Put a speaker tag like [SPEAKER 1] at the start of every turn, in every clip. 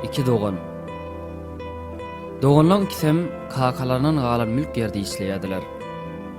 [SPEAKER 1] Iki dogan. Doganlaň ikisem kakalaryndan galan mülk ýerde işleýärdiler.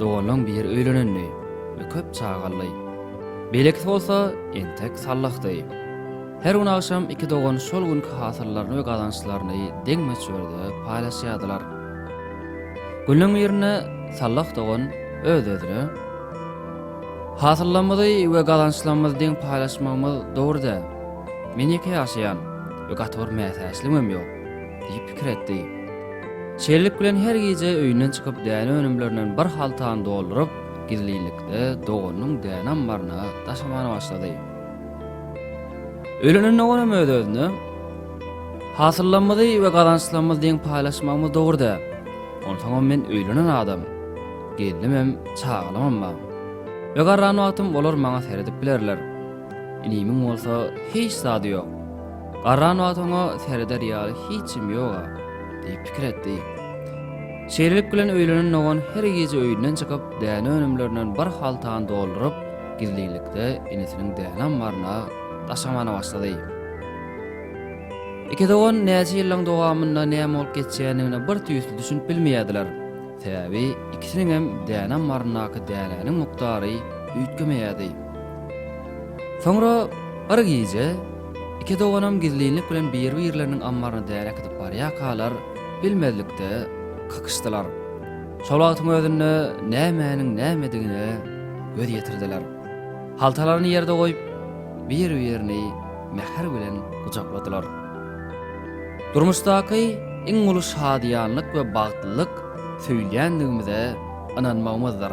[SPEAKER 1] Doganlaň biri öýlenendi we köp çaga aldy. Beýlekisi bolsa entek sallahdy. Her gün agşam iki dogan şol günki hasyllaryny we gazançlaryny deň möçberde paýlaşýardylar. Günleň birinde sallah dogan öz-özüne. Hasyllarymyzy we gazançlarymyzy deň paýlaşmagymyz dogry däl. Men ýeke ýaşaýan we gaty bir mätäçligimem ýok, diýip pikir etdi. Şeýlelik bilen her gije öýünden çykyp däne önümlerinden bir haltany dolduryp, gizlinlikde doganynyň däne ammaryna daşamana başlady. Öýlenen doganym öz-özüne, Hasyllarymyzy we gazançlarymyzy deň paýlaşmagymyz dogry däl. Onsoňam men öýlenen adam. Gelnimem, çagalamam bar. Bigarran wagtym olar maňa seredip bilerler. Inimiň bolsa hiç zady ýok. Garran wagt oňa sereder ýaly hiçim ýog-a, diýip pikir etdi. Şeýlelik bilen öýlenen dogan her gije öýünden çykyp, däne önümlerinden bir haltany dolduryp, gizlinlikde inisiniň däne ammaryna daşamana başlady. Iki dogan näçe ýyllaň dowamynda näme bolup geçýändigine birtüýsli düşünip bilmeýärdiler. Sebäbi ikisiniňem däne ammaryndaky dänäniň mukdary üýtgemeýärdi. Soňra bir gije iki doganam gizlinlik bilen biri-birleriniň ammaryna däne äkidip barýarkalar, bilmezlikde kakyşdylar. Şol wagtyň özünde nämäniň nämedigine göz ýetirdiler. Haltalaryny ýerde goýup, biri-birini. mähir bilen gujakladylar. Durmuşdaky iň uly şadyýanlyk we bagtlylyk söýülýändigimize ynanmagymyzdyr.